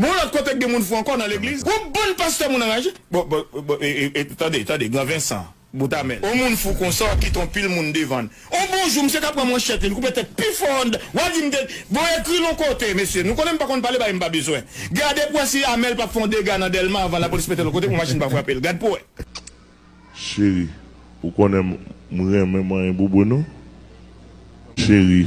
Men yon lòt kote k gen moun fou ankò nan legliz, yon bann pastè moun anraje. Bon, bon, bon, e, e, e, tande, tande, gran Vensan, bout a men l. Yon moun fou konsa w ap kite yon pil moun devan l. Yon bon jou, misye ka pran manchèt li, li koupe tèt pi fò anndan, w ap di m te, bon, ekri l yon kote, mesye, nou konnen m pa konn pale bagay m pa bezwen. Gade pou w wè si Amel p ap fè yon dega nan Dèlma anvan lapolis mete l yon kote pou machin pa frape l. Gad pou w wè. Cheri, ou konnen m renmen manyen bouboun ou. Cheri,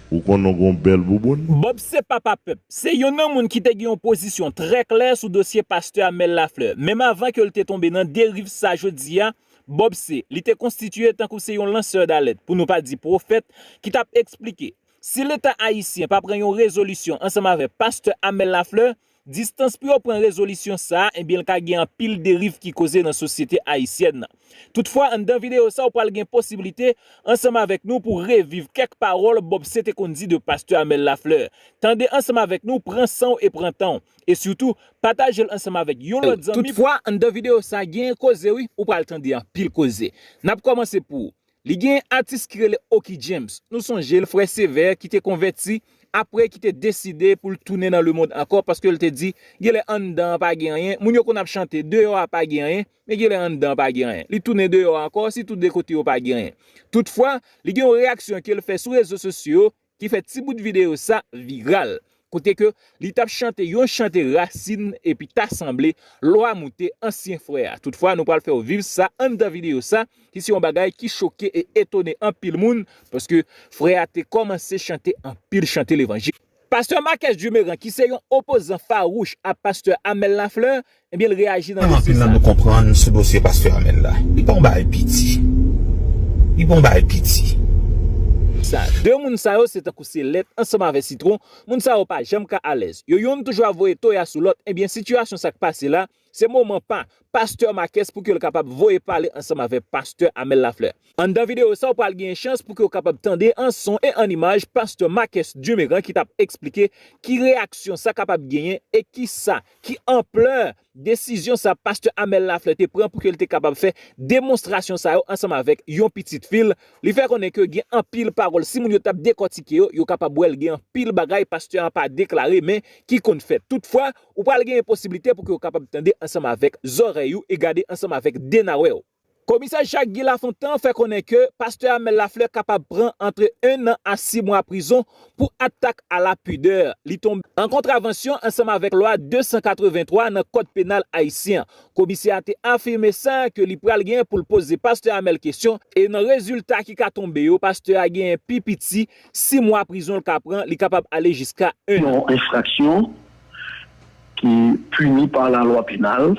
ou konnen w gon bèl bouboun. Bob se papa pèp. Se youn nan moun ki te gen yon pozisyon trè klè sou dosye pastè Amel Lafleur. Menm avan ke l te tonbe nan deriv sa jodi a, Bob se, li te konstitiye tankou se yon lansè dalèt, pou nou pa di pwofèt, ki t ap eksplike, si leta ayisyen pa pran yon rezolisyon ansanm avèk pastè Amel Lafleur, Distans pou yo pran rezolisyon sa a ebyen l ka gen anpil deriv ki koze nan sosyete ayisyèn nan. Toutfwa anndan videyo sa ou pral gen posiblite ansanm avèk nou pou reviv kèk pawòl Bob C te konn di de Pastè Amel Lafleur. Tande ansanm avèk nou, pran san w e pran tan w. E sitou, pataje l ansanm avèk yon lòt zanmi pou. Toutfwa anndan videyo sa gen koze wi, ou pral tande anpil koze. N ap kòmanse pou. Li gen atis ki rele Oky James, nou sonje l frè sevè ki te konvèti aprè ki te deside pou l tounen nan lemond ankò paske l te di genlè anndan an pa gen anyen, moun yo konn ap chante deyò a pa gen anyen men genlè anndan an pa gen anyen, li tounen deyò a ankò sitou de kote yo pa gen anyen. Toutfwa, li gen yon reyaksyon ke l fè sou rezo sosyo ki fè ti bout videyo sa viral, kote ke li tap chante yon chante rasin epi ta sanble lwa moute ansyen frè a. Toutfwa nou pral fèw viv sa anndan videyo sa ki se yon bagay ki choke e etone anpil moun paske frè a te kòmanse chante anpil chante levanjil. Pastè Marques Dumerant ki se yon opozan fawouch a pastè Amel Lafleur Ebyen l reyaji nan dosye sa. Anpil nan nou konprann sou dosye pastè Amel la. Li pa yon bagay piti. Li pa yon bagay piti. Sa. De moun sa yo se tankou se lèt ansanm avè sitwon, moun sa yo pa janm ka alèz. Yo youn toujou ap voye toya sou lòt ebyen sitiyasyon sa k pase la se moman pa pastè Makès pou ke l kapab voye pale ansanm avè pastè Amel Lafleur. Anndan videyo sa w pral genyen chans pou ke w kapab tande an son e an imaj pastè Makès Dumeran ki t ap eksplike ki reyaksyon sa kapab genyen e kisa ki anplè desizyon sa pastè Amel Lafleur te pran pou ke li te kapab fè demonstrasyon sa yo ansanm avèk yon pitit fi l, li fè konnen ke gen anpil pawòl si moun yo t ap dekòtike yo, yo kapab wè l gen anpil bagay pastè an pa deklare men ki konn fèt. Toutfwa, ou pral genyen posiblite pou ke ou kapab tande ansanm avèk zòrèy ou e gade ansanm avèk denawè w. Komisè Jacques Guy Lafontant fè konnen ke pastè Amel Lafleur kapab pran antre 1 an a 6 mwa prizon pou atak a la pudeur li tonbe an kontravansyon ansanm avèk lwa 283 nan kòd penal ayisyen an. Komisè a te afime sa ke li pral gen pou l poze pastè Amel kesyon e nan rezilta ki ka tonbe yo pastè a genyen pi piti 6 mwa prizon l ka pran li kapab ale jiska 1 an. Yon enfraksyon ki pini pa la lwa penal.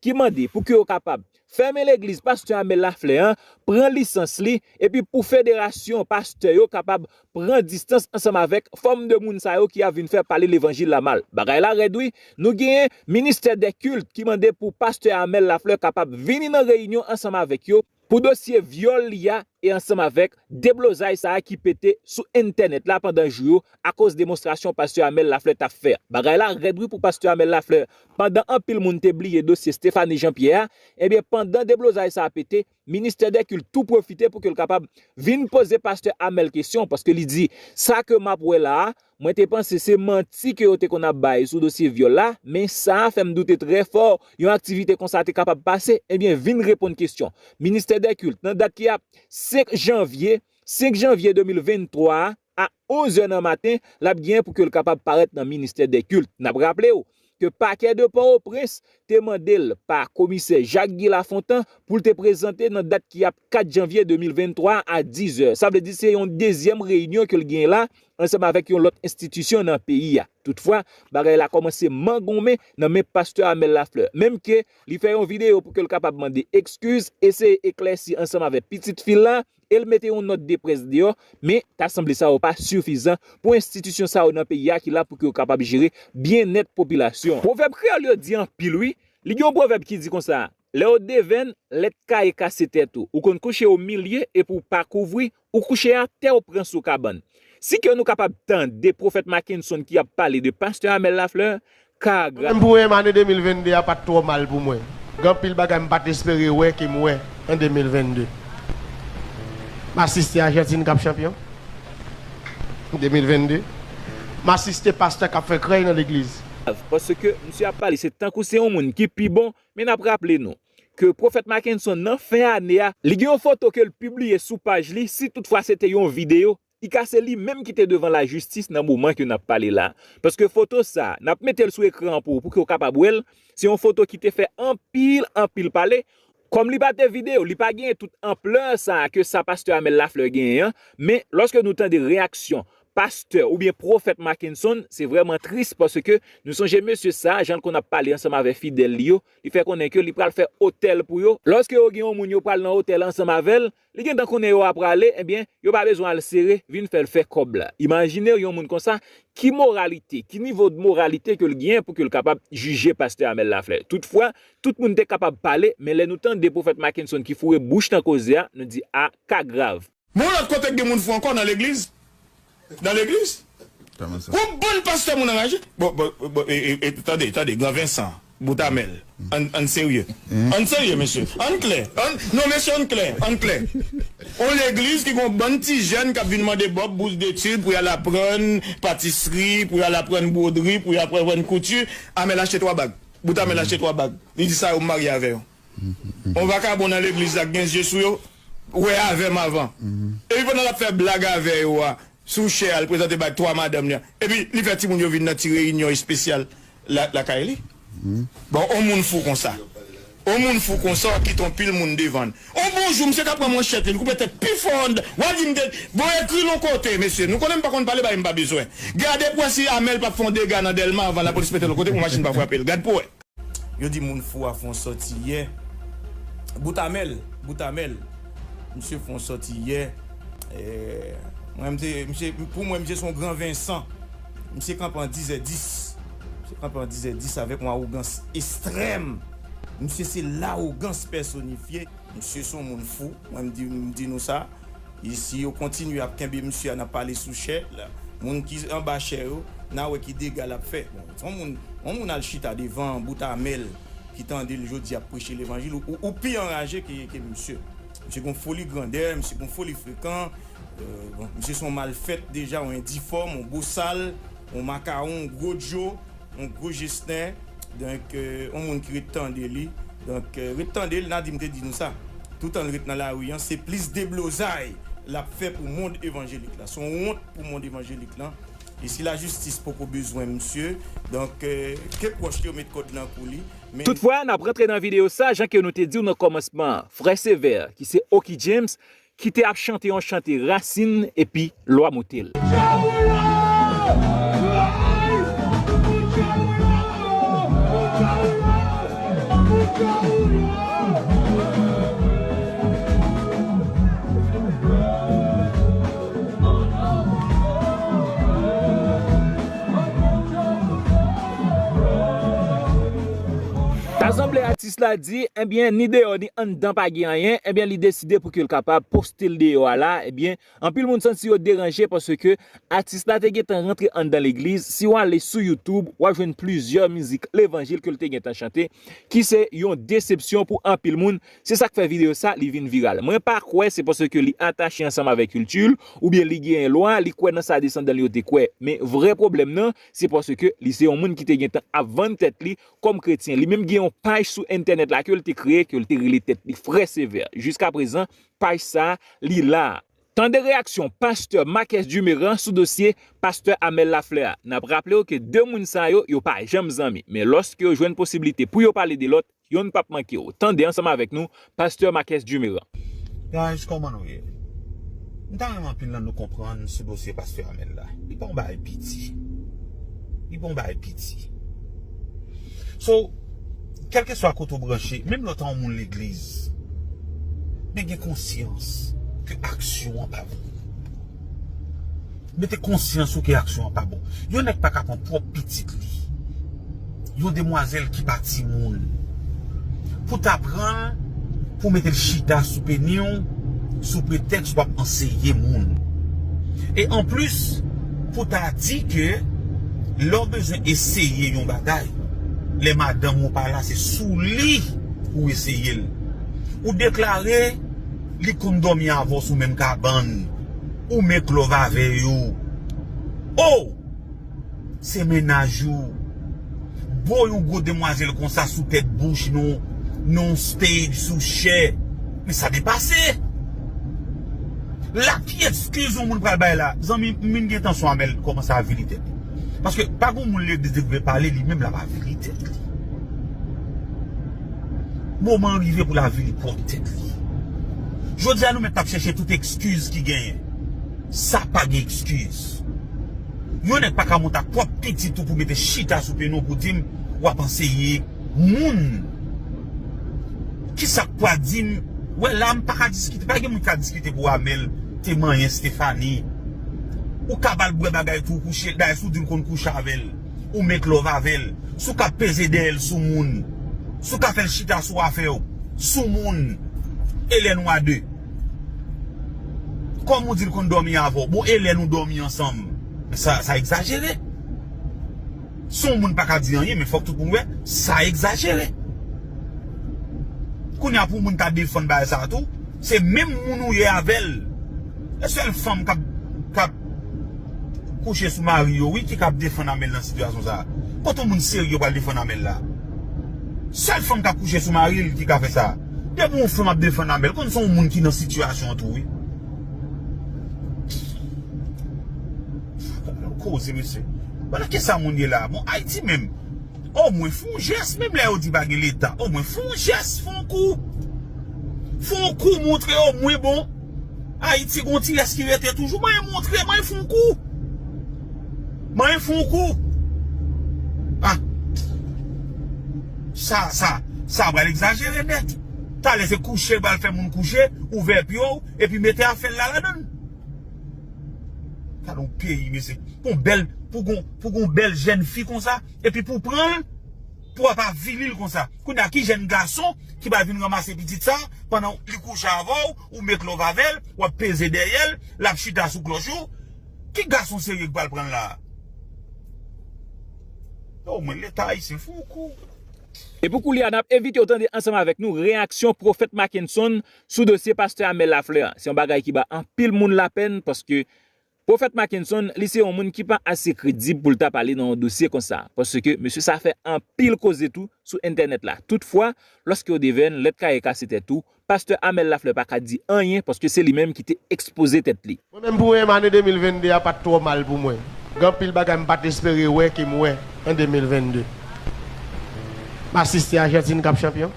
ki mande pou ke yo kapab fèmen legliz pastè Amel Laflè an, pran lisans li, epi pou federasyon pastè yo kapab pran distans ansanm avèk fòm de moun sa yo ki ap vin fè pale levanjil la mal. Bagay la rèd wi, nou genyen ministè dè kilt ki mande pou pastè Amel Laflè kapab vini nan reyinyon ansanm avèk yo, pou dosye vyòl li a e ansanm avèk deblozay sa a ki pete sou entènèt la pandan jou yo akoz demonstrasyon pastè Amel Lafleur tap fè. Bagay la rèd wi pou pastè Amel Lafleur, pandan anpil moun te bliye dosye Stéphanie Jean Pierre a, ebyen pandan deblozay sa a pete, ministè dè kilt tou pwofite pou ke l kapab vin poze pastè Amel kesyon paske li di sa ke map wè la a Mwen te panse se manti ke yo te konn ap bay sou dosye vyòl la, men sa a fè m doute trè fò yon aktivite konsa te kapab pase, ebyen vin reponn kesyon Ministè dè Kilt nan dat ki ap 5 janvye 5 janvye 2023 a a 11 è nan maten l ap genyen pou ke l kapab parèt nan Ministè dè Kilt. N ap raple w ke Pakè de Pòtoprens te mande l pa Komisè Jacques Guy Lafontant pou l te prezante nan dat ki ap 4 janvye 2023 a 10 zè. Sa vle di se yon dezyèm reyinyon ke l genyen la ansanm avèk yon lòt enstitisyon nan peyi a. Toutfwa, bagay la kòmanse mangonmen nan men Pastè Amel Lafleur. Menm ke li fè yon videyo pou ke l kapab mande ekskiz, eseye eklèsi ansanm avè pitit fi l la, e l mete yon nòt de près deyò, men ta sanble sa yo pa sifizan pou enstitisyon sa yo nan peyi a ki la pou ke yo kapab jere byennèt popilasyon an. Pwovèb kreyòl yo di anpil wi, li gen yon pwovèb ki di konsa, lè w devenn, lè t kaye kase tèt ou, ou konn kouche o milye epi w pa kouvri, ou kouche atè w pran sou kabann. Si ke nou kapab tande Pwofèt Makenson ki ap pale de Pastè Amel Lafleur, Ka a gra. Menm pou em ane 2022 a pat twò mal pou mwen. Gen anpil bagay m pat espere wè ke m wè an 2022. M asiste Ajantin kap chanpyon an 2022. M asiste pastè kap fè krèy nan legliz. Paske misye ap pale se tankou se yon moun ki pi bon men nap raple nou ke Pwofèt Mackenson nan fen ane a li gen yon foto ke l pibliye sou paj li si tout fwa se te yon videyo Li ka se li menm ki te devan la jistis nan moman ke nap pale la. Paske foto sa, nap metel sou ekran an pou ou, pouke ou kapab wel, se yon foto ki te fè anpil, anpil pale. Kom li pa te video, li pa genyen tout ampleur sa ke sa Pasteur Amel Lafleur genyen an, men loske nou tande reyaksyon Pasteur oubyen Profèt Mackenson, se vreman tris paske nou sonje mesye sa, janl konn ap pale ansanm avè fidèl li yo, li fè konnen ke li pral fè otèl pou yo. Loske yo gen yon moun yo pral nan otèl ansanm avèl, Li gentan konnen yo a prale ebyen yo pa bezwen al sere vin fèl fè kòb la imajinew yon moun konsa ki moralite ki nivo de moralite kel gnyen pou kel kapab jije pastè Amel Lafleur tout fwa tout moun te kapab pale men lè nou tande pwofèt Makenson ki foure bouch nan koze a nou di ah ka grav. Men yon lòt kote k gen moun fou ankò nan legliz Nan legliz Yon bann pastè moun anraje Bon tande tande gran Vincent bout amel Ann serye Ann serye mesye Ann klè Non mesye ann klè Ann klè Yon legliz ki gen yon bann ti jèn k ap vin mande Bob bous detid pou y al aprann patisri pou y al aprann bwodri pou y aprann kouti Amel achte 3 bag bout amel achte 3 bag li di sa yo m marye avè yon. Yon vakabon nan legliz la k gen zye sou yo wè avè m avan epi pandan l ap fè blag avè yo a sou chè a l prezante bay 3 madanm li epi li fè timoun yo vin nan ti reyinyon espesyal lakay li bon yon moun fou konsa yon moun fou konsa w ap kite yon pil moun devan l yon bon jou misye ka pran manchèt li l koupe tèt pi fò anndan w a di m te bon ekri l yon kote mesye nou konnen m pa konn pale bagay m pa bezwen gade pou w wè si Amel p ap fè yon dega nan Dèlma avan lapolis mete l yon kote pou machin pa frape l gad pou w wè. Yo di moun fou a fon sòti yè bout a menl bout a menl misye fon sòti yè mwen mte misye pou mwen misye son gran vensan misye kanpe an dizè dis misye kanpe an dizè dis avèk yon awogans estrèm misye se lawogans pèsonifye misye son moun fou mwen mdi nou sa. Si yo kontinye ap kenbe misye a nan pale sou chè moun ki anba chè yo na wè ki dega lap fè bon son moun yon moun al chita devan bout amel ki tandel jodi ap preche levanjil ou pi anraje ke misye misye gon foli grandè misye gon foli frekan bon misye son mal fèt deja yon endifòm yon bosal yon makawon yon gwo djo. Yon gwo jesnè donk yon moun ki ret tande li donk ret tande l Nadim te di nou sa toutan l ret nan lari an se plis deblozay l ap fè pou mond evanjelik la s on wont pou mond evanjelik lan e si lajistis poko bezwen msye donk ke pwòch li yo met kòd nan kou li men. Toutfwa, n ap rantre nan videyo sa jan ke nou te di w nan kòmansman an. Frè Sévère, ki se Oky James, Ki te ap chante yon chante rasin epi lwa moute l. Minis la di, ebyen ni deyò ni anndan pa gen anyen, ebyen li deside pou ke l kapab poste l deyò a la, ebyen anpil moun santi yo deranje paske atis la te gentan rantre anndan legliz, si w ale sou youtube w ap jwenn plizyè mizik levanjil ke l te gentan chante ki se yon desepsyon pou anpil moun, se sa k fè videyo sa li vin viral. Mwen pa kwè se paske li atache ansanm avèk kilti l oubyen li gen lwa, li kwè nan sa desandan l yo te kwè men vrè pwoblèm nan se paske li se yon moun ki te gentan ap vann tèt li kòm kretyen. Li menm gen yon paj sou entènèt la ke l te kreye, ke l te rele tèt li Frè Sevè. Jiskaprezan, paj sa a, li la a. Tande reyaksyon pastè Marques Duméran sou dosye pastè Amel Lafleur a. N ap raple w ke 2 moun sa yo, yo pa janm zanmi. Men lòske yo jwenn posiblite pou yo pale de lòt, yonn p ap manke w. Tande ansanm avèk nou Pasteur Marques Dumeran. Guys kòman nou ye? M ta renmen anpil nan nou konprann sou dosye pastè Amel la. Li pa yon bagay piti. Li pa yon bagay piti. So, kèlkeswa kote ou branche, menm lè w ta yon moun legliz, men gen konsyans ke aksyon an pa bon. Mete konsyans ou ke aksyon an pa bon. Yon nèg pa ka pran pwòp pitit li. Yon demwazèl ki pa timoun. Pou ta pran l, pou mete l chita sou peni w, sou pretèks w ap anseye moun. E an plis, pou ta di ke lè w bezwen eseye yon bagay, lè madanm ou pa la se sou li pou w eseye l. Ou deklare. Li konn domi avw sou menm kabann ou make love avey ou oh se mennaj ou bo yon gwo demwazel konsa sou tèt bouch nou non stage sou chè men sa depase la ki ekskiz yon moun pral bay la zanmi m vin gen tansyon amel komanse avili tèt li paske pa gon moun legliz li vle pale li menm lap avili tèt li. Moman an rive pou lavi li pwòp tèt li. Jodi a nou mèt ap chèche tout ekskiz ki genyen. Sa pa gen ekskiz. Yon nèg pa ka monte ak pwòp pitit ou pou mete chita sou pyenou pou di m w ap anseye moun. Kisa k pwa di m wè la m pa ka diskite. Pa gen moun ki ka diskite pou Amel te manyen Stéphanie. Ou ka ba l bwè bagay tou kouche l. Dayè si w di l konn kouche avè l. Ou make love avel. Souka peze dèyèl soumoun. Souka fèl chita sou afèw. Soumoun. Elè nou a de. Kòm ou dil konn dòmi avèw. Bon elè nou dòmi ansanm. Sa egzajere. Son moun paka di anyen men fòk tout moun wè sa egzajere. Kounya pou moun ta defann bagay sa tou. Se menm moun ou ye avèl. E sèl fanm kap. kouche sou mari yo wi ki kap defann Amel nan sitiyasyon sa kote moun serye pral defann Amel la sèl fanm kap kouche sou maril ki ka fè sa depi yon fanm ap defann Amel konn son moun ki nan sitiyasyon an tou wi gade koze mesye bon nan kisa moun ye la bon ayiti menm omwen fon jès menm lè yo di pa gen leta omwen fon jès fon kou fon kou montre omwen bon. Ayiti gon ti rès ki rete toujou mwen montre mwen fon kou mwen fon kou ah sa sa sa pral egzajere nèt talè se kouche pral fè moun kouche ouvè pye w epi mete afè la ladan l gadon peyi mesye pou bèl pou gon pou gon bèl jèn fi konsa epi pou pran l. Pouw pa vinil konsa. Kounye a ki jèn gason ki pral vin ranmase pitit sa pandan li kouche avèw ou make love avèl wap peze dèyèl lap chita sou klòch ou ki gason serye ki pral pranl la oh mwen leta ayisyen fou kou. E pou koulye a, n ap envite w tande ansanm avèk nou reyaksyon Pwofèt Mackenson sou dosye pastè Amel Lafleur an. Se yon bagay ki ba anpil moun lapèn paske Pwofèt Mackenson, li se yon moun ki pa ase kredib pou l ta pale nan yon dosye konsa, paske mesye sa fè anpil koze tou sou entènèt la. Toutfwa, lòske w devenn lèt kaye kase tèt ou, pastè Amel Lafleur pa ka di anyen paske se li menm ki te ekspoze tèt li. Mwen menm pou em ane 2022 a pat twò mal pou mwen. Gen anpil bagay m pat espere wè ke m wè an 2022. M asiste Ajantin k ap chanpyon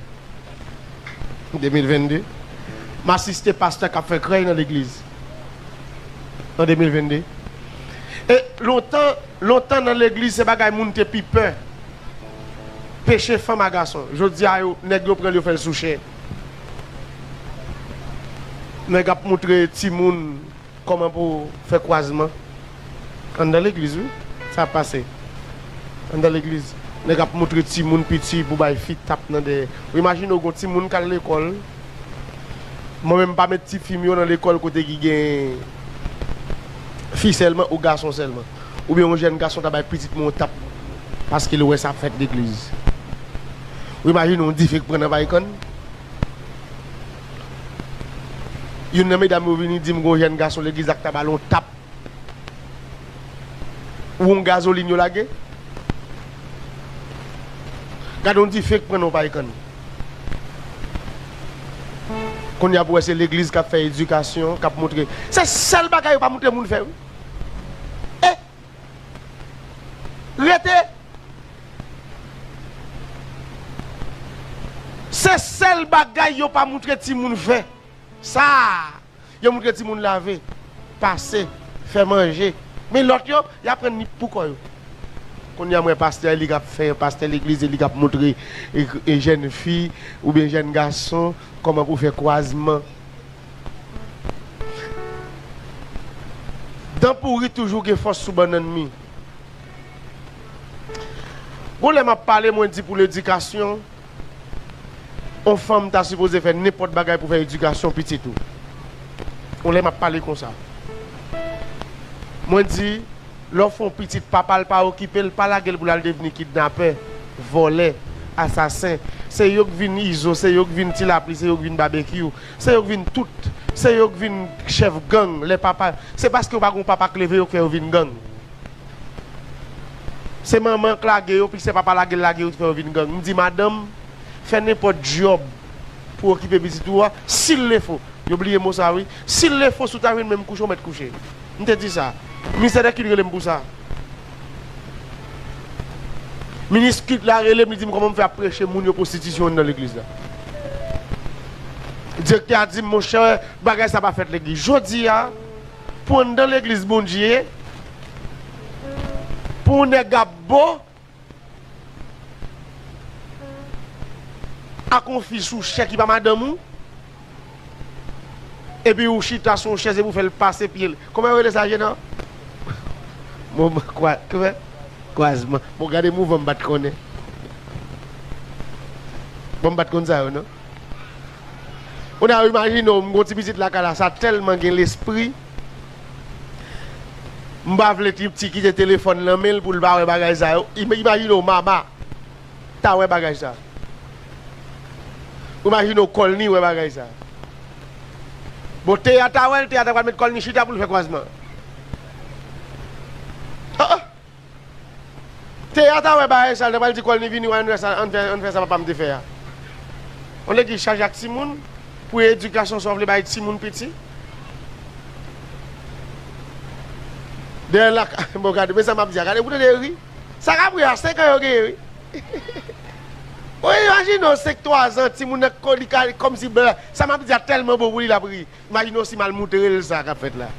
an 2022. M asiste pastè k ap fè krèy nan legliz. an 2022 e lontan lontan nan legliz se bagay moun te pi pè peche fanm a gason jodia yo nèg yo pranl yo fèl sou chè nèg ap moutre timoun kòman pou fè kwazman anndan legliz wi sa ap pase anndan legliz nèg ap moutre timoun piti pou bay fi tap nan dèyè ou imajine w gon timoun kal lekòl. Mwen menm m pa met tifi m yo nan lekòl kote ki gen fi sèlman ou gason sèlman. Oubyen yon jèn gason ta bay pitit mwen yon tap paske l wè sa ap fèt legliz. Ou imajine yon dife k pran nan Vaykàn? Youn nan medam yo vini di m gen yon jèn gason legliz la k ta ba l yon tap. Won gazolin yo lage. Gade yon dife k pran nan yon pay kann. Kounye a pou wè se legliz k ap fè edikasyon, k ap montre. Se sèl bagay yo pa montre moun fè wi. E rete. Se sèl bagay yo pa montre timoun fè. Sa a. Yo moutre timoun lave, pase, fè manje. Men lòt yo, y aprann li pou kò yo. Kounye a m wè pastè li k ap fè pastè legliz e li k ap moutre jèn fi oubyen jèn gason kòman pou fè kwazman. Dan pouri toujou gen fòs sou bannann mi. Gon lè m ap pale mwen di pou ledikasyon. On fanm ta sipoze fè nenpòt bagay pou fè edikasyon pitit ou. On lè m'ap pale konsa. Mwen di, lè w fè on pitit papa l pa okipe l, pa lage l pou l'al devni kidnapè, vòlè, asasen. Se yo k vin Izo, se yo k vin Ti Lapli, se yo k vin Babekyou, se yo k vin tout. Se yo k vin chèf gang lè papa, se paske yo pa gen on papa k leve yo k fè yo vin gang. Se manman k lage yo pi se papa lage l lage yo ki fè yo vin gang. M di madanm fè nenpòt dyòb pou okipe pitit ou a, si l le fo, yo bliye mo sa wi, si l le fo si w ta jwenn menm kouche w mèt kouche. M te di sa. Ministè dè kilt rele m pou sa. Minis kilt la rele m li di m kòman m fè ap preche moun yo pwostitisyon anndan legliz la. Direktè a di m monchè bagay sa pa fèt legliz. Jodi a. Pou an dan legliz bondye. Pou ou nèg ap bo. Ak on fi sou chè ki pa madanm ou. Epi ou chita sou on chèz epi ou fèl pase pye l. Kòman yo rele sa jena? Moman kwa kwe kwazman. Bon gade mouvan m pat konnen. Bon m pat konn sa yo non. Kounye a imajine w m gen yon ti pitit lakay la sa tèlman gen lespri m pa vle ti piti kite telefòn nan men l pou l pa wè bagay sa yo imajine w Mama ta wè bagay sa ou imajine w Kòlni wè bagay sa bon Teya ta wè l Teya ta pral met kòl ni chita pou l fè kwazman an an Teya ta wè bagay sa li ta pral di kòl ni vini wè ann fè ann fè sa papam te fè a olye ki chaje ak timoun pou edikasyon sa w vle bay timoun piti dèyè lak bon gade men sa map di a gade pou tande yo ri sa kap ri a 5 an yo genyen wi ou imajine w 5 3 zan timoun nan li ka kòmsi sa map di a tèlman bon pou li lap ri. Imajine w si mal moutre l sa k ap fèt la.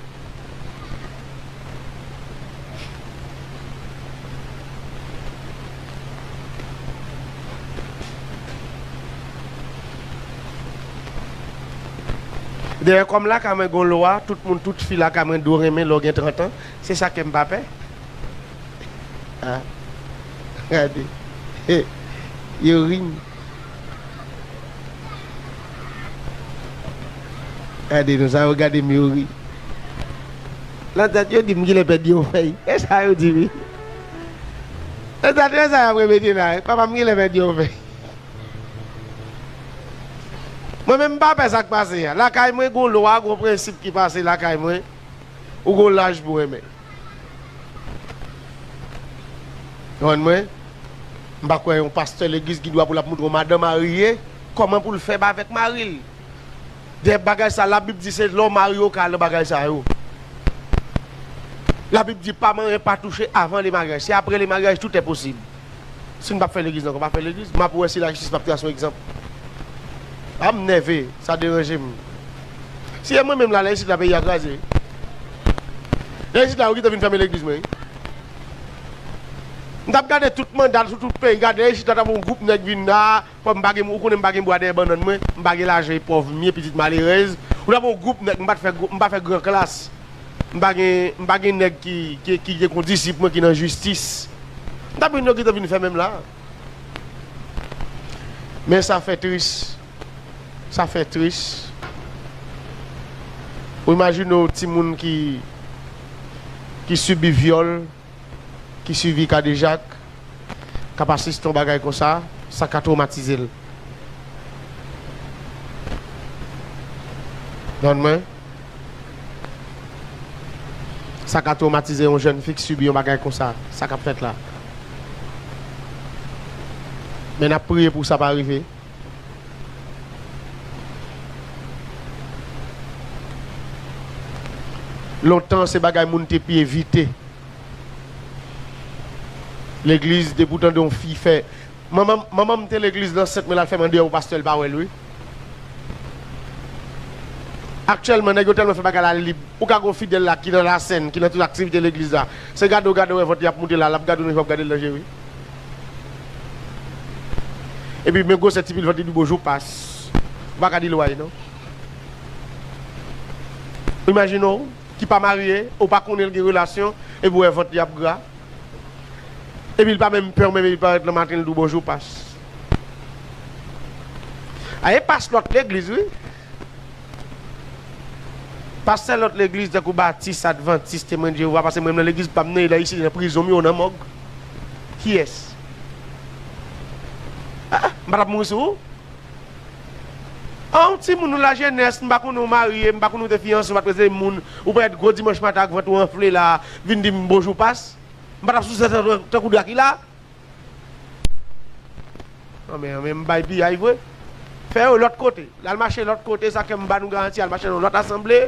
Dayè kòm lakay mwen gon lwa tout moun tout fi lakay mwen dwe renmen lè w gen 30 an, se sa k fè m pa pè. Gade, yo ri m. Gade nou sa yo gade m yo ri Nan tèt yo di m kilè pèdi yon fèy E sa yo di wi Nan tèt yo e sa y ap repete la Papa m kilè pèdi yon fèy Mwen menm m pa pè sa k pase a Lakay mwen gon lwa gon prensip ki pase lakay mwen Ou gon laj pou renmen. Konprann mwen? M pa kwè yon pastè legliz gen dwa pou l ap montre yon madan marye kòman pou l fè avèk mari l. Dayè bagay sa labib di se lè w marye w ka al nan bagay sa yo. Labib di pa manyen pa touche avan lemaryaj. Se apre lemaryaj tout è posib. Si nou pap fè legliz nan konpa fè legliz map wè si la jistis pap tras yon egzanp a m nève sa deranje m si e mwen menm la lè isit la peyi a kraze lè isit la yo kite vin fèmen legliz mwen m tap gade tout manda sou tout peyi gade isit la ta bon gwoup nèg vin la. Kòm m pa gen ou konnen m pa gen bwa dèyè bannann mwen, m pa gen lajan e pòv m ye pitit malerèz, ou ta pran yon gwoup nèg m pa t fè m pa fè gran klas, m pa gen m pa gen nèg ki ki gen kondisip mwen ki nan jistis m ta pran yo ki te vin fè menm la men sa fè tris sa fè tris ou imajine w timoun ki ki sibi vyòl. ki sibi kadejak k ap asiste yon bagay konsa, sa ka twomatize l. Konprann mwen? Sa ka twomatize yon jèn fi k sibi yon bagay konsa, sa k ap fèt la. Men n ap priye pou sa pa rive. Lontan se bagay moun te pi evite. Legliz depi ou tande yon fi fè manman manman m te legliz nan sèt men lal fè mande yon pastè l pa wèl wi. Aktyèlman nèg yo tèlman fè bagay la lib ou ka gon fidèl la ki nan la sèn ki nan tout aktivite legliz la se gade w gade w wè vant li ap moute la lap gade w menm jan wap gade l nan je wi. Epi men gwosè ti pil vant li doubo jou pas. Ou pa ka di l way non. Imajine w ki pa marye, ou pa konnen l gen relasyon epi ou wè vant li ap gra. Epi l pa menm pè w menm epi l parèt nan maten l di w bonjou pas. A e pas lòt legliz wi. Pastè lòt legliz tankou batis, advantis, temwen jewova pase mrenmn nan legliz pam nan e dayisyen nan prizon miyou nan mòg kiyès ah mpatap mouri sou ou anw timoun ou lajenès mpa konnen ou marye mpa konnen ou te fiyanse ou pat prezante moun ou parèt gro dimanch maten ak vant ou anfle la vin dim bonjou pas mpatap souse tankou drakila. An men, an men m bay piyay vre. Fè yo lòt kote. Lal mache lòt kote, sa fè m ba nou garanti al mache nan yon lòt asanble.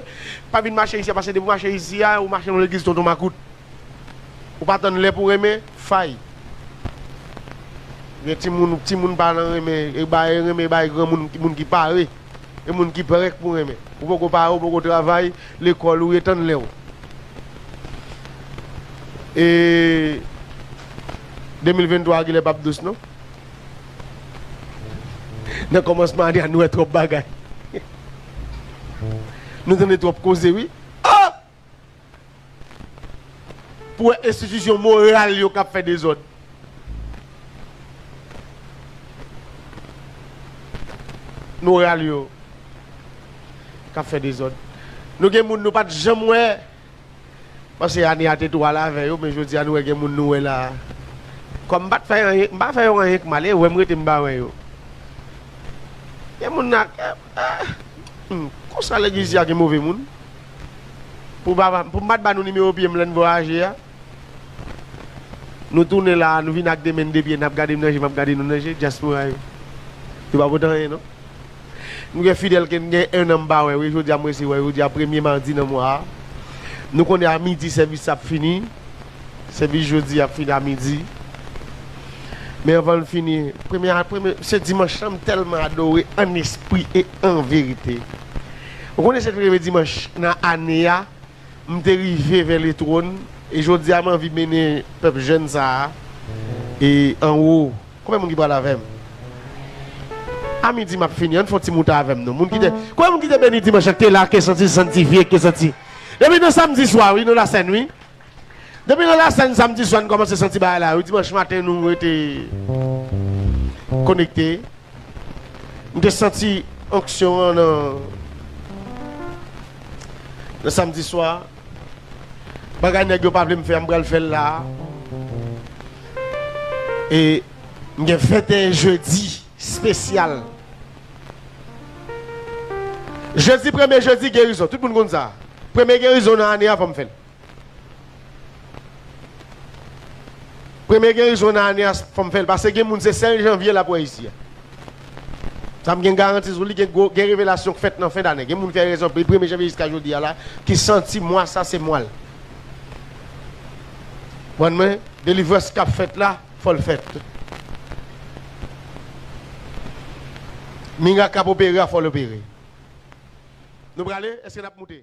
Pa vin mache isi a, pase depi w mache isi a, ou mache nan legliz tonton makout. Ou pa tann lè pou renmen, fay. Gen timoun, timoun pa nan renmen, e bay renmen bay granmoun, moun ki pare. E moun ki prank pou renmen. Ou poko pare ou poko travay lekòl ou ye tann lèw e 2023 a genlè pap dous non nan kòmansman ane a nou wè twòp bagay nou tande twòp koze wi oh! Pou wè enstitisyon moral yo k ap fè dezòd. Moral yo k ap fè dezòd. Nou gen moun nou pa t janm wè, pase ane a te tou al avè yo, men jodi a nou wè gen moun nou wè la a. Kòm m pa t fè anyen, m pa fè yo anyen k mal, e wè m rete m pa wè yo. Gen moun nan, konsa legliz di a gen move moun. Pou m pa t ba nou nimewo pye m lè n vwayaje a. Nou tounen la a, nou vin ak de men n de pye n ap gade m nan je m ap gade nou nan je, dyaspora yo. Yo pa pote anyen non. M gen Fidel ke m gen ennan m pa wè wi, jodi a m resi wè l, jodi a premye madi nan mwa a. Nou konnen a midi sèvis sa ap fini, sèvis jodi a ap fini a midi. Men anvan l fini, premye, se dimanch lan m tèlman adore an espri e an verite. Ou konnen se premye dimanch nan ane a m te rive vè le trône e jodi a m anvi mennen pèp jèn sa a e anwo. Konbyen moun ki pral avè m? A midi m ap fini ann fè yon ti moute avè m non moun ki te konbyen moun ki te beni dimanch lan ki te la ke santi santifye ke santi depi nan samdi swa wi nan la sèn wi. Depi nan lasen samdi swa n kòmanse santi bagay la wi dimanch maten nou rete konekte m te santi onksyon an nan nan samdi swa bagay nèg yo pa vle m fè a m pral fè l la e m gen 21 jedi spesyal jedi premye jedi gerizon tout moun konn sa premye gerizon nan ane a fò m fè l. Premye gerizon nan ane a fòm fèl pase gen moun se sèl janvye lap wè isi a sa m gen garanti sou li gen gwo gen revelasyon k fèt nan fen dane gen moun fè rezon pri premye janvye jiska jodi a la ki santi mwa sa se mwal kpwann mwen delivrans kap fèt la fòl fèt mirak kap opere a fòl opere nou prale eske nap moute.